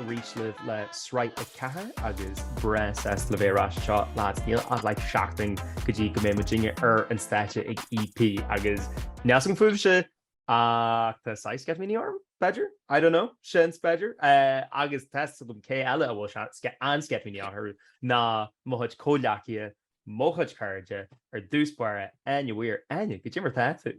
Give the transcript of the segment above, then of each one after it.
ar ais libh le sraith a ceathair agus buíochas libh ar ais so lads níl ach like seachtain go dtí go mbeidh muid uilig ar an stáitse ag EP agus níl a fhios agam fúibhse ach tá saghas sceitimíní orm b'fheidir I don't know sin b'fhéidir é agus tá a fhios agam cé eile a bhfuil an-sceitimíní orthu ná mo chuid comhghleacaithe mo chuid cairde ar dtús báire Áine Weir Áine goidé mar tá tú.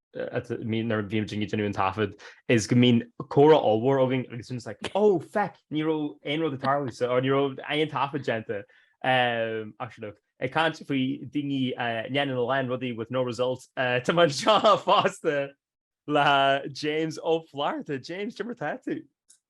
nuair a bhímid ag déanamh an taifead, is go mbíonn comhrá ollmhór againn agus bímid like, ó feic, ní raibh aon rud ag tarlú sa, nó ní raibh aon taifead déanta. Actually look, ag caint faoi daoine a dhéanann a lán rudaí with no result, tá mé anseo fosta le James Ó Flatharta. James, goidé mar atá tú?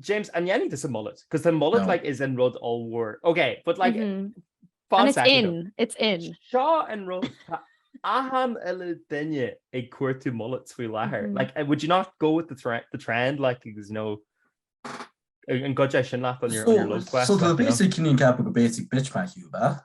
James, an dhéanaí is a mullet? Because the mullet no. like is in rud all war. Okay, but like mm -hmm. it's in it's in. Seo an rud ahan eile dunne ag cuairú mullet faoi láthair. Mm -hmm. Like would you not go with the trend the trend like there's no an go sin lá an basic cinní cap go basic bitch me hiú ba?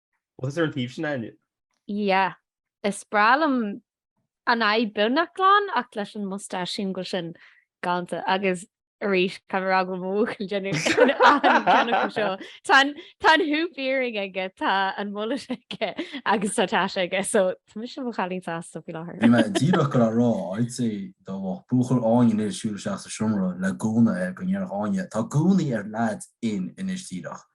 Buíochas ar an taobh sin inniu. Yeah. Is breá liom an aghaidh beagnach glan ach leis an moustache singil sin galanta agus arís tá ag mo bhuachaill deineadh sin achan ceann acu so. Tá tá an hoop earring aige tá an mullet aige agus tá tash aige so tá mise i mo chailín sásta faoi láthair. Bhí mé díreach ag goil a rá, I'd say, dá mbeadh buachaill Áine anois ag siúl isteach sa seomra le gúna air go ndéarfadh Áine, tá gúnaí ar leaids in anois díreach.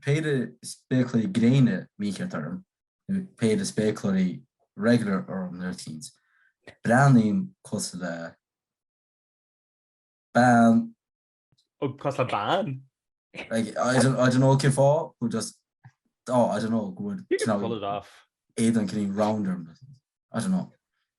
péire spéaclaí gréine mícheart orm, nó péire spéacláirí regular orm nó rud eicínt, breathnaím cosúil le bean. Ó, cosúil le bean? Like, I don't, I don't know cén fáth, but just, oh, I don't know, go bhfuil You can pull it off. éadan cineál round orm, I don't know.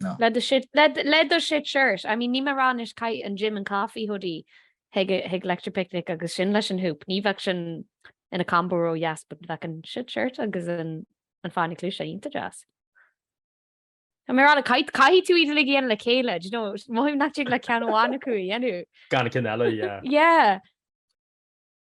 No. Le do shit, le, le do shit shirt. I mean, níl mé ag rá anois caith an Gym and Coffee hoodie chuig, chuig Electric Picnic agus sin leis an hoop. Ní bheadh sin ina combo ró dheas but bheadh an shit shirt agus an, an fáinne cluaise iontach deas. Tá mé ag rá like caith, caithfidh tú iad uilig a dhéanamh le chéile, do you know, mothaím nach dtig leat ceann amháin acu a dhéanamh. Gan ceann eile, yeah. Yeah.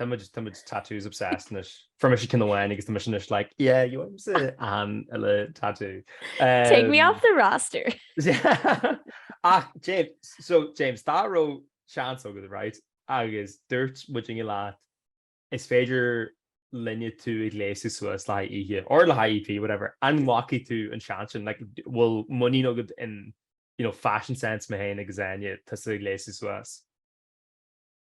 Tá muid, tá muid tattoos obsessed anois. Fuair mise ceann amháin agus tá mise anois like, yeah, you want ceann eile tattoo. Take me off the roster! Ach James, so James, dá raibh seans agat, right, agus dúirt muid inniu leat is féidir linne tú a ghléasadh suas le haghaidh oíche, or le haghaidh EP, whatever, an nglacfadh tú an seans sin? Like, do- bhfuil muinín agat in, you know, fashion sense mé fhéin agus Áine, tusa a ghléasadh suas?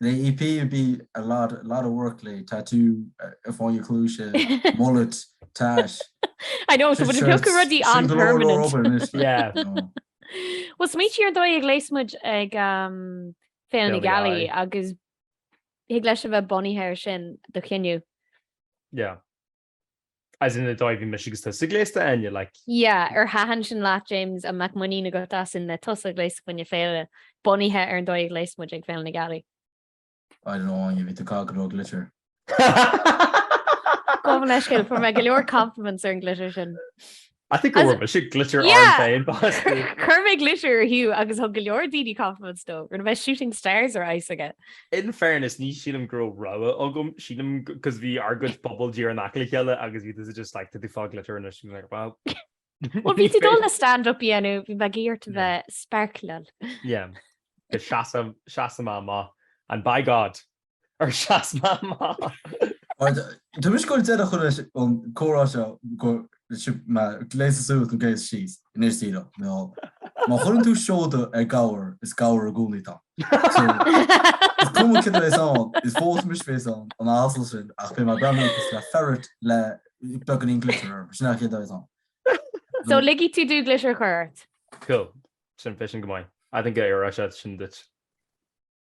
They appear to be a lot lot of work lay, tatú ar fáinne a chluaise, mullet, tash. I know, so beagán rudaí an-permanent. Yeah. Bhuel, smaoitigh ar an dóigh a ghléas muid ag Féile na Gealaí agus thig leis a bheith bunaithe ar sin do chinneadh. Yeah. As in, an dóigh a bhí mise agus tusa gléasta Áine, like. Yeah, ar thaitin sin leat James, an mbeadh muinín agat asainn le tusa a ghléasadh fá choinne féile, bunaithe ar an dóigh a ghléas muid ag Féile na Gealaí? I don't know Áine, bhí tú gaga ró glitter. Gabh mo leithscéal, fuair mé go leor compliments ar an glitter sin. I think go bhfuil sé glitter orm féin Cuir mé glitter ar Hugh agus thug go leor daoine compliments dó mar bhí shooting stars ar aghaidh s'aige. In fairness ní shílim go raibh rogha agam, sílim cos bhí ár gcuid puball díreach in aice le chéile agus bhí tusa just like tá tú ag fáil glitter anois and I'm like well Bhuel bhí tú ag dul le stand up a dhéanamh bhí mé ag iarraidh ort a bheith sparkle. Yeah. Seasamh seasamh amach and by God ar sheas mé amach. Tá mise ag déanamh chuile an comhrá seo gur gléas suas nó gléas síos anois Zero. Má chuireann tú síoda ar ghabhar is gabhar i gcónaí atá ann. So, is cuma céard a bheas ann, is fós anois bhéas ann, an asal sin, ach beidh mé ag breathnú cosúil le ferret le beagáinín glitter orm, sin céard a bheas ann. So, ligfidh tú dom glitter a chur ort? Cool. Sin bheadh sin go maith. I think go bhfóirfeadh sé sin duit.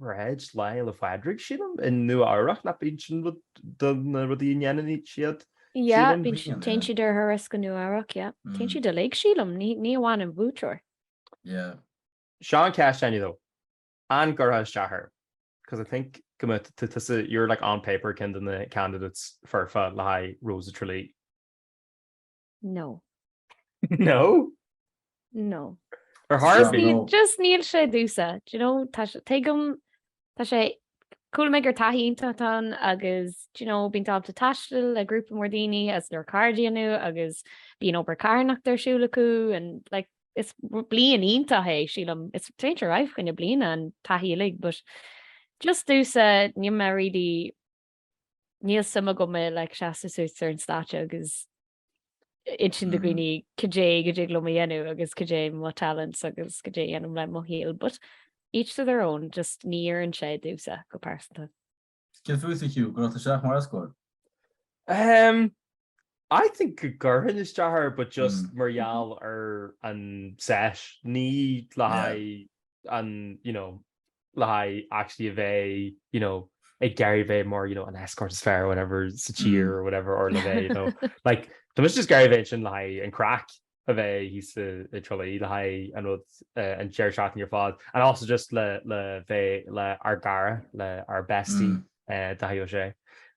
Paráid Lá Fhéile Pádraig, sílim, i Nua Eabhrach, nach b'in sin rud de na rudaí a ndéanann siad? Yeah, Sílim. bíonn siad, téann siad ar thuras go Nua Eabhrach, yeah. Téann Mm. siad uilig, sílim, ní, ní amháin an buaiteoir. Yeah. Seo an cheist Áine though. An gcuirfeá isteach air? Because I think go mbeadh tú- tú- tusa, you're like on paper ceann de na candidates foirfe le haghaidh Rose of Tralee. No. No? No. Ar chor ar bith? níl- Just níl sé domhsa. Do you know, tá sé- tuigim, tá sé, chuala mé gur taithí iontach atá ann agus, do you know, bíonn tú ábalta taisteal le grúpa mór daoine is go leor cairde a dhéanamh agus bíonn obair carthanachta ar siúl acu and like, is bliain iontach é, sílim. Is féidir a rá fá choinne bliana an taithí uilig but just domhsa níl mé really Níl suim agam i like seasamh suas ar an stáitse agus insint do dhaoine cad é go dtig liom a dhéanamh agus cad é mo talents agus cad é a dhéanaim le mo shaol but each to their own, just ní oireann sé domhsa go pearsanta. Céard fútsa Hugh, an gcuirfeadh tú isteach mar escort? Ehm I think go gcuirfinn isteach air but just mar gheall ar an sesh, ní le haghaidh an you know le haghaidh actually a bheith you know, ag iarraidh a bheith mar you know, an escort is fearr whatever sa tír mm. or whatever or le bheith you know, like Tá mise just ag iarraidh a bheith ansin le haghaidh an craic a bheith thíos i dTrá Lí le haghaidh an rud eh, an deireadh seachtaine ar fad and also just le le bheith le ár gcara le ár bestie mm. eh, Dáithí Ó Sé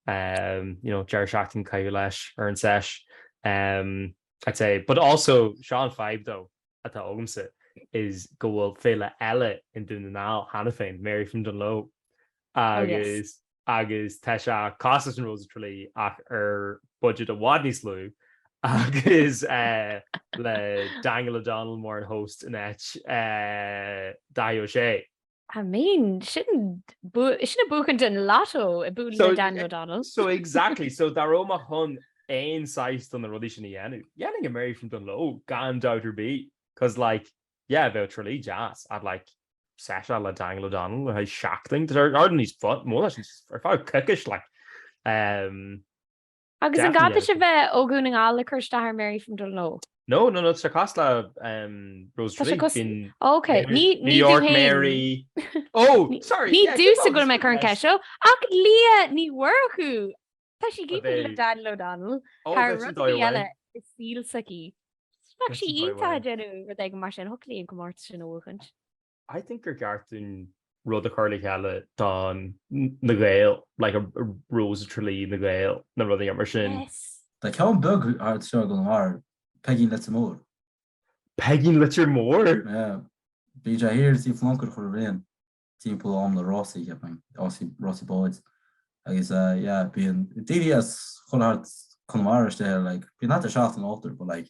um, you know, deireadh seachtaine a chaitheamh leis ar an sesh um, I'd say but also Sean five though atá agamsa is go bhfuil féile eile in Dún na nGall cheana féin, Mary from Dunloe agus agus tá sé cosúil leis an Rose of Tralee ach ar budget i bhfad níos lú agus eh, le Daniel O'Donnell mar an host in áit eh, Dáithí Ó Sé. I mean, sin sin ag buachan an lotto ag bualadh le Daniel O'Donnell. So exactly, so dá raibh mé chun aon saghas de na rudaí sin a dhéanamh, dhéanfainn an Mary from Dunloe gan dabht ar bith, 'cause like, yeah, bheadh Trá Lí deas, ach like seisiún le Daniel O'Donnell le haghaidh seachtain, they're hardly any fun, b'fhéidir ar feadh coicís like. Um, Agus an gá duit a bheith ó Dhún na nGall le cur isteach ar Mary from Dunloe? No, no, no, tá sé cosúil le Rose of Tralee. Tá sé cos, ok, ní tú fhéin. Oh, sorry! Ní dtusa go raibh mé ag cur an cheist seo, ach Lia Ní Mhurchú! Tá sí gafa le Daniel O'Donnell, thar rud ar bith eile i saol s'aici. Bheadh sí iontach ag déanamh rud éigin mar sin, thiocfadh léi an comórtas sin a bhuachaint. I think gur cheart dúinn rud a chur le chéile don na Gaeil, like Rós Thrá Lí na Gaeil nó rud éigin mar sin. Yes! Tá ceann beag thart seo i gConamara, Peigín Leitir Móir. Peigín Leitir Móir? Yeah. Bíonn sé thiar sa bPléaráca chuile bhliain timpeall am na rásaí, cheap mé, rásaí, rásaí báid. Agus eh, yeah, bíonn daoine as chuile cheard Conamara istigh, like, bíonn thart ar seacht n-iarrthóir, but like,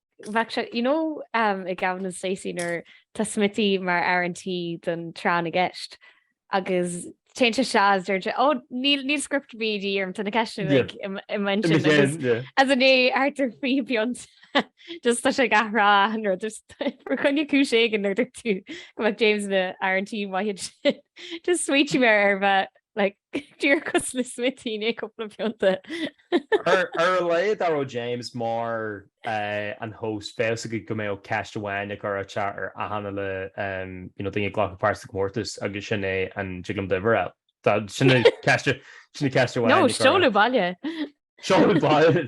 Bheadh sé, you know, i Gavin and Stacey nuair tá Smithy mar fhear an tí don tráth na gceist agus téann sé suas is deir sé, oh, níl, níl script de dhíth orm, tá na ceisteanna uilig i m'intinn agus, ansin, ar chúis éigin bíonn just tá sé ag athrá an rud is gur le haghaidh cúis éigin nuair a dúirt tú go mbeadh James ina fhear an tí maith sin just Smithy mar a bheadh like, Díreach cosúil le Smithy i ndiaidh cúpla pionta. Ar a laghad dá raibh James mar an host, bheadh's agaibh go mbeadh ceist amháin á cur aige ar achan cailín you know daoine ag glacadh páirt sa gcomórtas agus sin é an dtig liom d'uimhir fháil. Tá sin ceist sin ceist amháin. No, seoladh baile. Seoladh baile.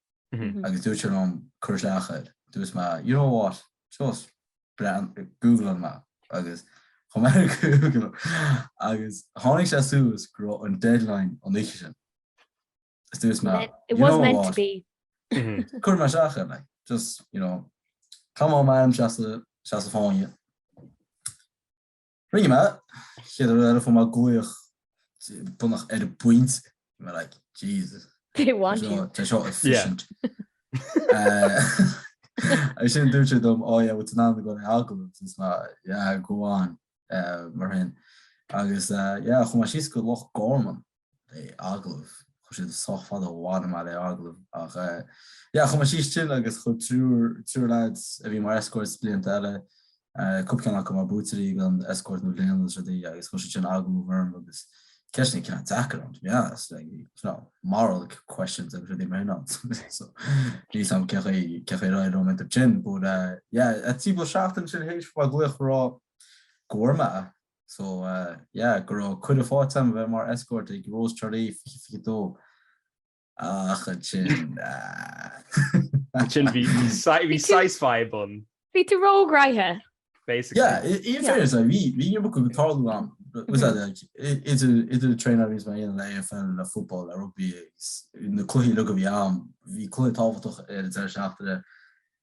agus dúirt sé liom cur isteach air. Dúirt mé you know what, just breathn, googlóidh mé agus chuir mé ar Google agus tháinig sé suas go raibh an deadline an oíche sin. Is dúirt mé you know what, cuirfidh mé isteach air like, just you know, tá mé ag suí sa Spáinn. Agus an chéad rud eile fuair mé glaoch beagnach ar an bpointe. Bhí mé like, Jesus. They want you. Tá seo efficient. Agus ansin dúirt siad liom, oh yeah, well tá tú ag an agallamh. Is mé, yeah, go on. Mar sin. Agus yeah, chuaigh mé síos go Loch Garman. é an agallamh. Chuaigh sé sách fada amháin mar é agallamh ach yeah chuir mé síos ann agus chuir triúr triúr leaids a bhí mar escorts blianta eile cúpla ceann acu mar buaiteoirí den escort na bliana agus rudaí agus chuir siad sin agallamh orm agus ceisteanna ag ceann deacra orm to be honest like you know moral questions agus rudaí mar sin ann so níl a fhios agam cé chaoi cé chaoi ar éirigh liom sa sin but uh, yeah cúpla seachtain ina dhiaidh fuair mé glaoch ag rá go raibh mé So yeah, go raibh cuireadh fáighte agam a bheith mar escort ag Rós Thrá Lí 2022. Ach ansin ah. Ansin bhí bhí sásamh ann. Bhí tú roghnaithe. Basically. Yeah, in fairness, yeah. bhí bhí neart ag tarlú an t-am sin that like idir idir traenáil agus mar aon le AFL le football le rugby na cluichí like bhí am bhí cluiche tábhachtach ar an deireadh seachtaine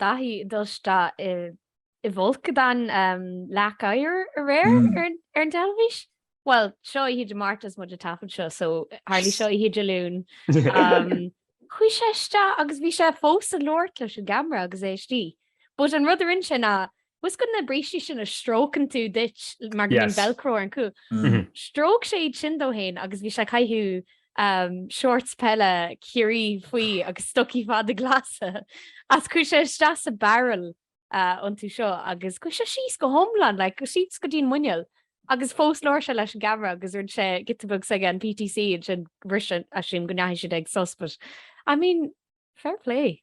Daithí ag dul isteach i bhfolcadán leac oighir aréir ar an dteilifís. Bhuel, seo í oíche Dé Máirt is muid ag taifead seo so tharlaigh seo oíche Dé Luain. Chuaigh sé isteach agus bhí sé fós ag labhairt leis an gceamara agus é istigh. But an rud a rinne sé ná Bhuel, fhios agat na brístí sin a stróiceann tú díot mar go mbíonn velcro ar an cúl. Stróic sé iad sin de fhéin agus bhí sé ag caitheamh shorts peile Chiarraí faoi agus stocaí fada glasa as. Chuaigh sé isteach sa barrel iontu seo agus chuaigh sé síos go hiomlán, like, síos go dtí an muineál. Agus fós labhair sé leis an gceamara agus rinne sé giota beag s'aige an PTC ansin, bhris sé as sin go ndeachaigh siad ag sos, but, I mean, fair play.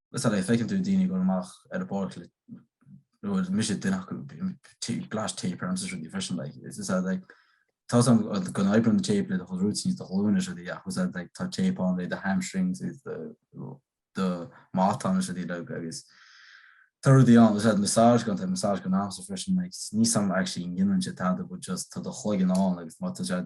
Is ea, feiceann tú daoine ag dul amach ar an bpáirc le, bhuel, mise duine acu, bíonn píosa tape ormsa is rudaí freisin, like, tá a fhios agat like, tá sé ag oibriú an tape le do rúitín is do ghlúin is rudaí ach, tá a fhios agat like, tá tape on le do hamstrings is the, do mátán is rudaí le agus tá rudaí an, is that massage gan tá massage gan am so freisin, like, níl a fhios agam actually an ndéanann sé tada but just tá do chloigeann ann agus má tá sé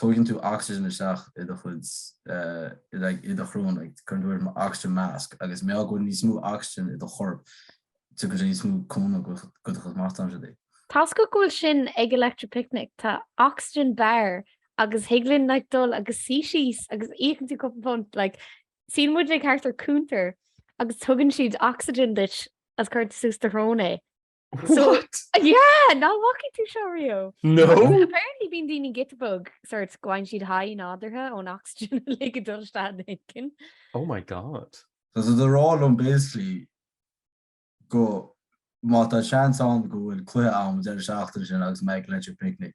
tógann tú oxygen isteach i do chuid, like, i do shrón, like, cuireann tú ort oxygen mask, agus má tá go bhfuil níos mó oxygen i do chorp, tabharfaidh sé níos mó cúnamh do do chuid matáin di. Tá a fhios agat go bhfuil sin ag Electric Picnic, tá oxygen bar agus thig leat, like, dul agus suí síos agus íocann tú cúpla punt, like, suíonn muid, like, thart ar cuntar agus tugann siad oxygen duit agus cuireann tú suas do shrón é. What? So, yeah, nach bhfacaidh tú seo riamh. No? Apparently bíonn daoine giota beag, sort, faigheann siad high nádúrtha ón ocsaigin uilig ag dul isteach ina gceann. Oh my God. Tá siad ag rá liom basically go má tá seans ann go bhfuil cluiche ann an deireadh seachtaine sin agus mé ag Electric Picnic.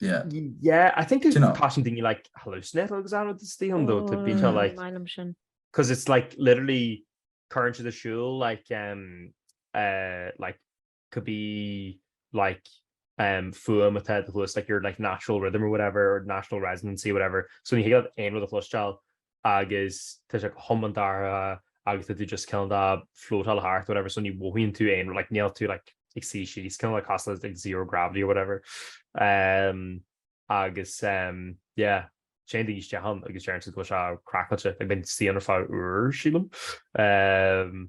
yeah yeah I think you know caution thing you like hallucinate agus an rud tí an dó bí te like sin because it's like literally current to the shul like um uh like could be like um fuam with that the like your like natural rhythm or whatever or national residency whatever so when you have aim with a flush child agus tá sé go hiomlán dorcha agus tá tú just cineál ag flótáil thart or whatever so ní mhothaíonn tú aon like níl tú like ag suí síos cineál like tá sé like zero gravity or whatever ehm agus ehm yeah téann daoine isteach ann agus deireann siad go bhfuil sé craiceáilte like bíonn siad ann ar feadh uair sílim ehm.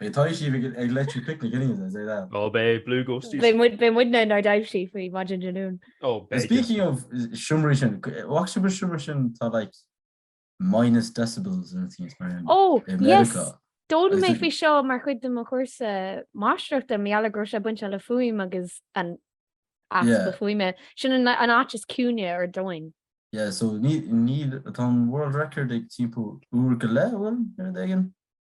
Beidh taibhsí ag Electric Picnic in Aontas é le. Ó beidh Blue Ghosties. Beidh muid beidh muid ne inár dtaibhsí faoi mhaidin Dé Luain. Ó beidh. Speaking of seomraí sin, bhfaca sibh an seomra sin tá like minus decibels and things mar sin. Ó yes! D'fhoghlaim mé faoi seo mar chuid de mo chúrsa máistreachta mar gheall ar go raibh sé bainte le fuaim agus an easpa fuaime. Sin an an áit is ciúine ar domhain. Yeah so ní ní tá an world record ag timpeall uair go leith a bhfuil ar an dtagann?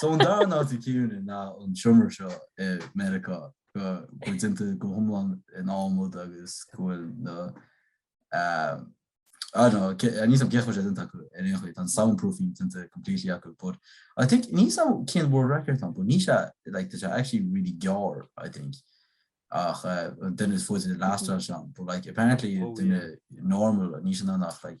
So an dara háit is ciúine ná an seomra seo i Meiriceá go bhfuil déanta go hiomlán in adhmad agus go bhfuil na I don't know, níl fhios agam cén chaoi a bhfuil sé déanta acu ar aon chaoi, tá an soundproofing déanta completely acu, but I think ní so cén world record an, but ní sé like tá sé actually really gearr, I think. Ach uh, duine is faide a last mm. sean, but like apparently oh, duine yeah. normal ní sé nach like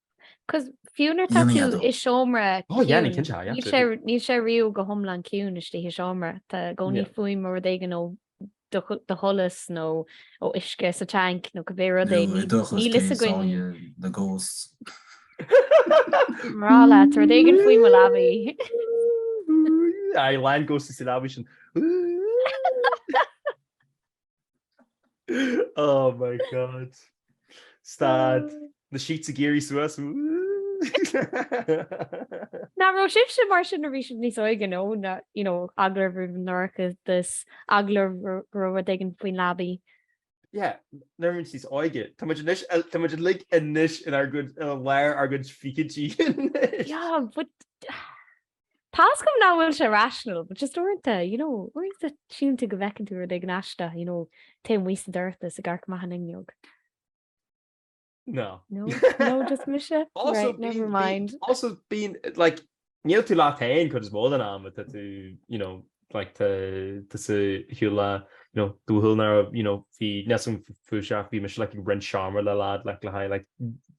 Cos fiú nuair tá tú i seomra ciúin, níl sé riamh go hiomlán ciúin istigh i seomra, tá i gcónaí fuaim ó rud éigin ó do sholas nó ó uisce sa tanc nó cibé rud é, níl fhios againn. Mná leat, rud éigin faoi mo leabaidh. Aye, lean ghost is i leabaidh sin. Oh my God. Stad. Na sheets ag éirí suas. Ná raibh sibhse mar sin nuair a bhí sibh níos óige nó na you know eagla roimh an dorchadas, eagla go raibh rud éigin faoin leabaidh. Yeah, nuair a bhí muid níos óige. Tá muid anois a- tá muid uilig anois inár gcuid- i lár ár gcuid fichidí anois. Yeah, but Tá fhios agam nach bhfuil sé rational, but just uaireanta, you know, uaireanta síleann tú go bhfeiceann tú rud éigin aisteach, you know, taobh amuigh sa dorchadas ag amharc amach an fhuinneog. No. No? No, just mise? Also, Right, bíonn- never bíonn- mind. Also, bíonn, like, níl tú leat féin cuid is mó den am atá tú, you know, like tá tusa ag siúl le you know do bhuachaill ná raibh you know bhí neas an chúiseach bhí mise like ag roinnt seomra le leaid like le haghaidh like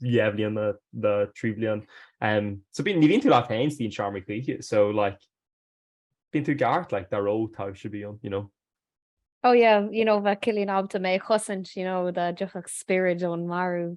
dhá bhliain nó trí bliain em so bíonn ní bhíonn tú leat féin sa tseomra choíche so like bíonn tú ag gabhairt like dá raibh taibhse bíonn you know. Oh yeah you know bheadh Cillian ábalta mé a chosaint you know dá dtiocfadh spiorad ón marbh.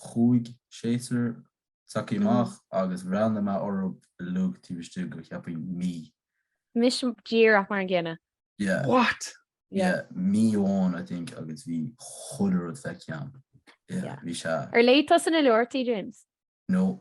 Chuaigh seisear s'acu amach agus bhreathnaigh mé orthub uilig taobh istigh de cheapfainn mí. Mise díreach mar an gcéanna. Yeah. What? Yeah, mí amháin I think agus bhí chuile rud feicthe agam. Yeah, bhí sé. Ar léigh tusa na leabharthaí James? No.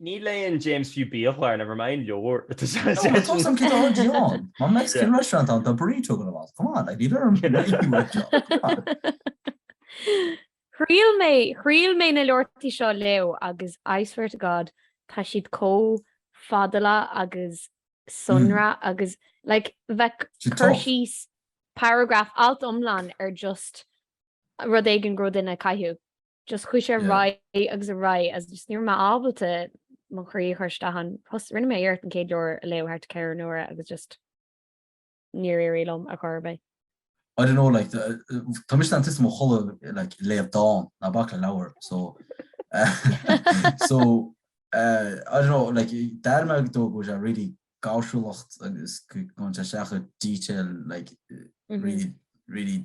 Ní léann James fiú biachlár, never mind leabhar. Nó an cosán cé dá chuid John? Mar Mexican restaurant ann tá burrito gan a bhás, come on, like, ní bheidh orm réigiú uait seo, come on. Thriail mé, thriail mé na leabharthaí seo a léamh agus I swear to God tá siad comh fadálach agus sonrach agus like bheadh cur síos, paragraf, alt iomlán ar just rud éigin go raibh duine ag caitheamh. just chuaigh sé ar aghaidh agus ar aghaidh agus just ní raibh mé ábalta mo chroí a chur isteach ann. Rinne mé iarracht an chéad leabhar a léamh thart ar ceithre n-uaire agus just níor éirigh liom ar chor ar bith. I don't know like tá mise in mo chodladh like ag léamh dán ná bac le leabhar so so uh, I don't know like dar mé dó go sé really gáirsiúlacht agus go sé seacha detail like mm-hmm. really really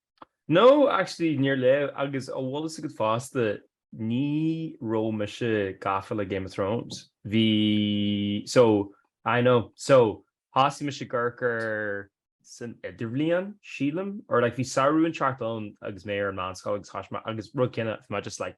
No, actually, níor léigh, agus an bhfuil a fhios agat fosta, ní raibh mise gafa le Game of Thrones, bhí, so, I know, so, thosaigh mise ag amharc air san idirbhliain, sílim, or like bhí samhradh inteacht ann agus mé ar an meánscoil agus thosaigh mé, agus rud céanna, bhí mé just like,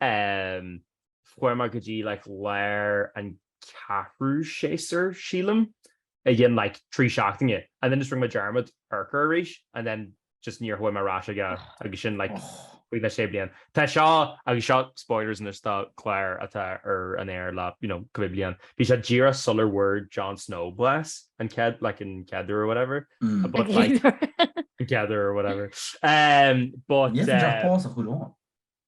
em, chuaigh mé go dtí like lár an ceathrú séasúr, sílim, a dhein like trí seachtaine and then just rinne mé dearmad amharc air arís and then just níor chuaigh mé ar ais aige agus sin like cúig nó sé bliana. Tá seo agus seo spoilers anois do clár atá ar an aer le you know cúpla bliain. Bhí sé díreach sular bhfuair Jon Snow blas an chéad like an chéad uair or whatever mm. but like together or whatever. Um, but yeah, uh,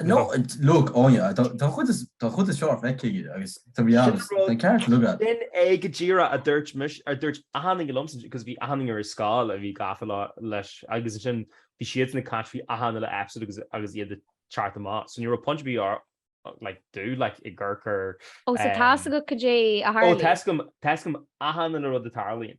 No, look, oh yeah, tá an chuid is fearr feicthe agat to be honest, they can't look at. Sin é go díreach a dúirt mise, a dúirt achan duine liomsa, because bhí achan duine ar an scoil a bhí gafa leis agus ansin bhí siadsan ag caint faoi achan uile episode agus iad ag teacht amach, so ní raibh pointe ar bith like domh like ag amharc air. Oh, so tá's agat goidé a tharlaíonn? Oh, tá's agam achan uile rud a tharlaíonn.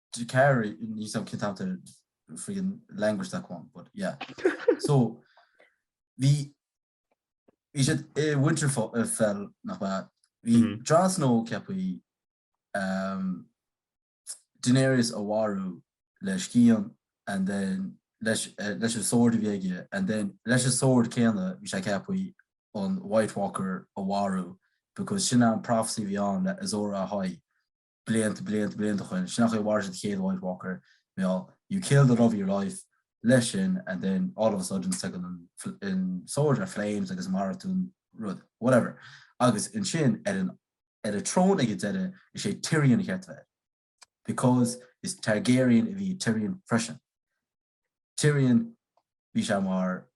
do care in nílim cinnte after friggin language that one but yeah so bhí bhí siad i Winterfell uh, fell nach ba bhí Mhm. Jon Snow ceaptha um, Daenerys a mharú le scian and then leis, eh, leis an sword a bhí aige and then leis an sword céanna bhí sé ceaptha an White Walker a mharú because sin an prophecy a bhí ann le Azor Ahai blianta, blianta, blianta ó shin, sin an chaoi a mharaigh an chéad White Walker, meall, you kill the love of your life, leis sin and then all of a sudden tagann an an sword in flames agus maraíonn tú an rud, whatever. Agus ansin ar an ar an throne ag an deireadh is é Tyrion ba cheart a bheith air because is Targaryen a bhí i Tyrion freisin. Tyrion, bhí sé mar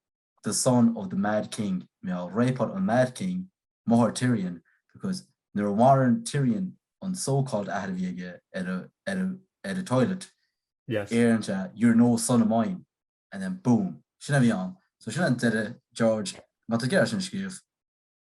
the son of the Mad King, mar gheall rape-áil an Mad King, máthair Tyrion, because nuair a mharaíonn Tyrion an so-called athair a bhí aige ar a, ar a, ar a toilet, yes, deireann sé you're no son of mine and then boom, sin a bhí ann. So sin an deireadh, George, má tá tú ag iarraidh sin a scríobh.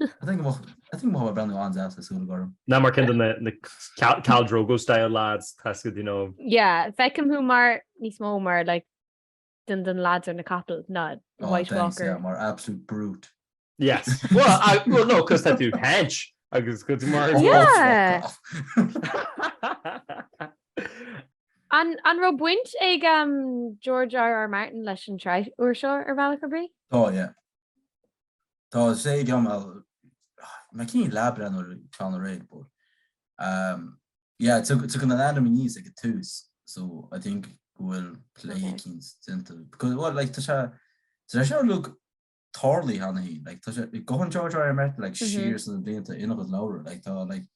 Ná mar ceann de na Khal Drogo style lads tusa do you know. Yeah feicim thú mar níos mó mar like den de na lads ar na capaill ná oh, White Walker. Yeah, mar absolute brute. Yes. Well, I, well no, cos tá tú hench agus go mar An an raibh baint ag um, George R. R. Martin leis an tsraith úr seo ar bhealach ar bith? Tá, yeah. Tá sé gclann a Má cinn leath brean ar clann a réidh but um yeah tagann a ainm aníos ag an tús so I think go bhfuil plé eicínt déanta because bhuel like tá sé tá sé seo like tarlaithe cheana féin like tá sé go han George R R Martin like siar sna blianta ina chuid leabhra like tá like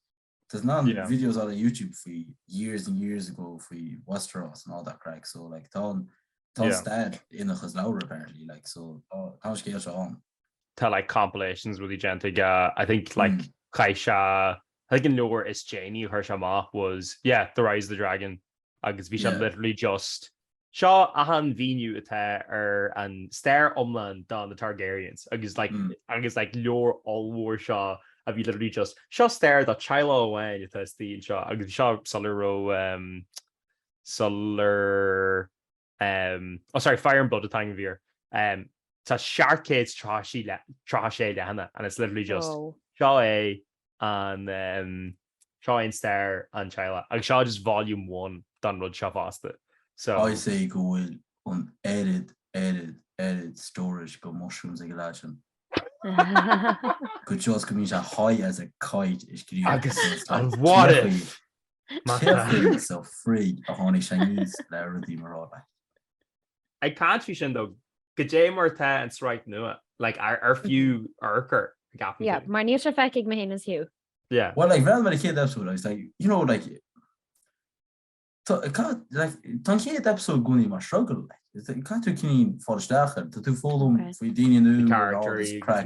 Tá na videos ar YouTube faoi years and years ago faoi Westeros and all that crack so like tá tá an stair ina chuid leabhar apparently like so tá an scéal seo ann. Tá like compilations uilig déanta aige I think like mm. chuir sé I think an leabhar is déanaí a chuir sé amach was yeah the rise of the dragon agus bhí sé literally just, 'Seo achan mhíniú atá ar an stair iomlán do na Targaryens', agus like agus like leabhar ollmhór seo a bhí literally just, 'Seo stair do teaghlach amháin atá istigh anseo' agus bhí seo sular raibh um sular oh sorry, fire and blood atá air. tá seacht gcéad 36 leathanach ann and it's literally just oh seo é an seo é an stair an teaghlaigh agus seo just volume one don rud seo fosta so. I'd say go bhfuil an oiread, oiread, oiread stórais de mushrooms ag an lad sin. go dtí go mbíonn sé high as a kite ag scríobh agus an what if? Macasamhail so frig a tháinig sé aníos le rudaí mar rud like. Ag caint faoi sin though, goidé mar tá an sraith nua like ar ar fiú amharc air gap. Yeah, mar níl sé feicthe ag mé héin is Hugh. Yeah. Well like bhuel mar an chéad episode agus like, you know like Tá an chéad episode i gcónaí mar struggle like. caithfidh tú cineál fáil isteach ann, Tá tú ag foghlaim faoi daoine nua character crack.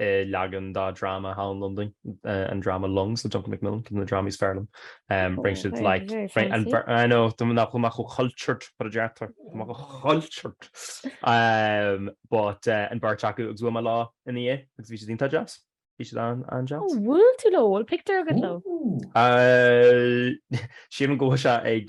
leagan de dráma thall i London, an dráma Lungs le Duncan Macmillan, ceann de na drámaí is fearr liom. Rinne siad like, very, very fancy. and br- I know, tá muid amach go cultured, but a deartháir, tá muid amach go cultured! but an bheirt acu agus bhuail mé leo ina dhiaidh agus bhí siad iontach deas, bhí siad an-deas. Ó, bhuail tú leo? Bhfuil pictiúr agat leo? Shíl mé go raibh sé ag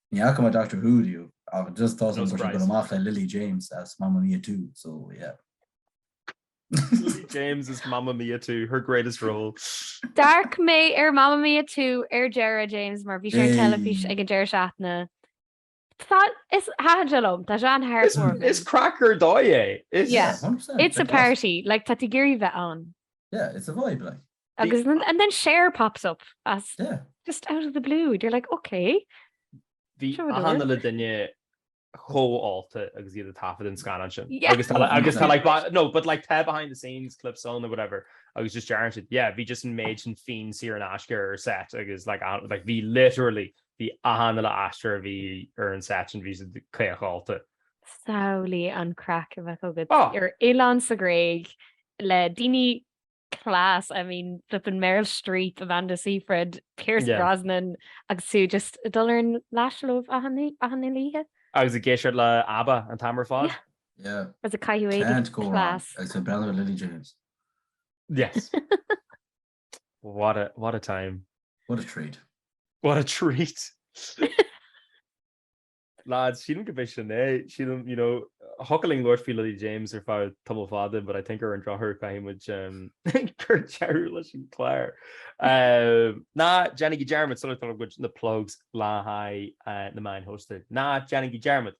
Ní fhaca mé Doctor Who riamh ach just tá a fhios agam go raibh sé ag gabháil amach le Lily James as Mamma Mia Two so yeah. Lily James as Mamma Mia Two, her greatest role. D'amharc mé ar Mamma Mia Two ar deireadh James mar bhí sé ar teilifís ag an deireadh seachtaine. Tá, is thaitin sé liom, tá sé an-heartwarming. Is craic ar dóigh é! Is. Yeah, 100%. It's a party, like tá tú ag iarraidh bheith ann. Yeah, it's a vibe like. Agus and then Cher pops up as Yeah. just out of the blue and you're like ok, Bhí Sure, whatever. achan uile dhuine chomh ólta agus iad ag taifead an scannán sin. Yeah. Agus tá le- agus tá like ba- no but like tá behind the scenes clips ann nó whatever agus just deireann siad yeah bhí just an méid sin fíon saor in aisce ar an set agus like a- like bhí literally bhí achan uile aisteoir a bhí ar an set sin bhí siad caoch ólta. Samhlaigh an craic a bheadh agat Oh! ar oileán sa Ghréig le daoine class, I mean flippin Meryl Streep, Amanda Seyfried, Pierce Yeah. Brosnan agus tú just ag dul ar an lash leofa achan oí- achan uile oíche. Agus ag éisteacht le Abba an t-am ar fad. Yeah. Yeah. Agus ag caitheamh éadaigh Can't go wrong. class. Agus ag breathnú ar Lily James. Yes. What a, what a time. What a treat. What a treat. Lads, sílim gurb é sin é. Sílim, you know, thiocfadh linn labhairt faoi Lily James ar feadh tamall fada but I think ar an drochuair caithfidh muid cur deireadh leis an gclár. Ná déanaigí dearmad sula dtugann muid na plugs le haghaidh na meáin shóisialta. Ná déanaigí dearmad.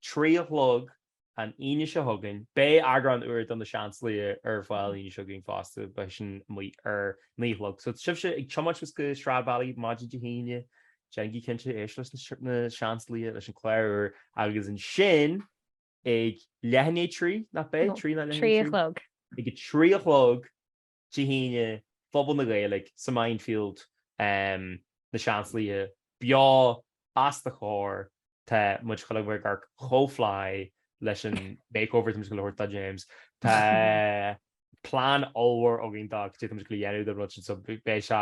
Trí a chlog an Aoine seo chugainn. Beidh eagrán úr de Na Seansálaithe ar fáil an Aoine seo chugainn fosta, beidh sin amuigh ar naoi a chlog. So sibhse ag tiomáint suas go Stradbally maidin Dé hAoine, déanaigí cinnte éist leis Na Seansálaithe, leis an chlár úr agus ansin ag leath i ndiaidh a trí, nach beidh? Trí, nach leath i ndiaidh a trí? Trí a chlog. Ag a trí a chlog. Dé hAoine, Puball na Gaeilge sa Mindfield, Na Seansálaithe, beo os do chomhair, tá muid ag gabháil a bheith ag amharc chomh fly leis an makeover atá mise ag gabháil a thabhairt do James. Tá plean ollmhór againn do cad é tá mise ag gabháil a dhéanamh don rud sin so beidh sé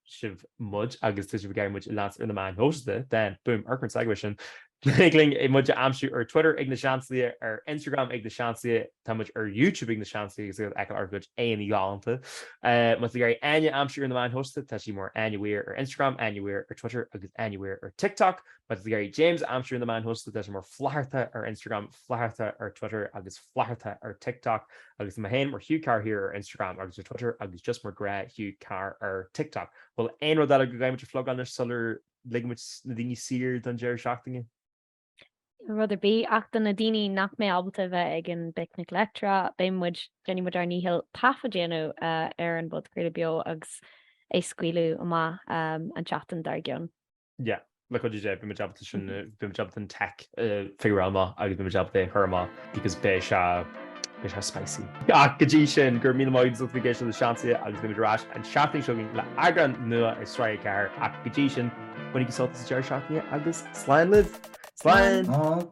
sibh muid agus tá sibh ag iarraidh muid a leanstan ar na meáin shóisialta then, boom, amharc ar an segue sin, thig libh muid a aimsiú ar Twitter ag Na Seansálaithe, ar Instagram ag Na Seansálaithe, tá muid ar YouTube ag Na Seansálaithe agus ag fheiceáil ár gcuid éadaí galánta. Má tá sibh ag iarraidh Áine a aimsiú ar na meáin shóisialta, tá sí mar Áine Mhaoir ar Instagram, Áine Mhaoir ar Twitter agus Áine Mhaoir ar TikTok. Má tá sibh ag iarraidh James a aimsiú ar na meáin shóisialta, tá sé mar Flatharta ar Instagram, Flatharta ar Twitter agus Flatharta ar TikTok agus mé fhéin mar Hugh Carr here ar Instagram agus ar Twitter agus just mar gnáth Hugh Carr ar TikTok. Bhfuil aon rud eile go gcaithfidh muid a phlugáil anois sula ligfidh muid na daoine saor don deireadh seachtaine? Níl rud ar bith ach do na daoine nach mbeidh ábalta a bheith ag an bPicnic Leictreach, beidh muid, déanfaidh muid ár ndícheall taifead a dhéanamh ar an bpodchraoladh beo agus é a scaoileadh amach an tseachtain dár gcionn. Yeah, like what do you do, bhí muid ábalta sin, bhí muid ábalta an tech a figure out amach agus bhí muid ábalta é a chur amach because b'é seo, b'é seo spicy. Ach go dtí sin, go raibh míle maith agat agus bhí géisio le Seansálaithe agus beimid ar ais an seachtain seo chugainn le eagrán nua ag Sraith 4 ach go dtí sin, bainigí sult as an deireadh seachtaine agus slán libh! Slán!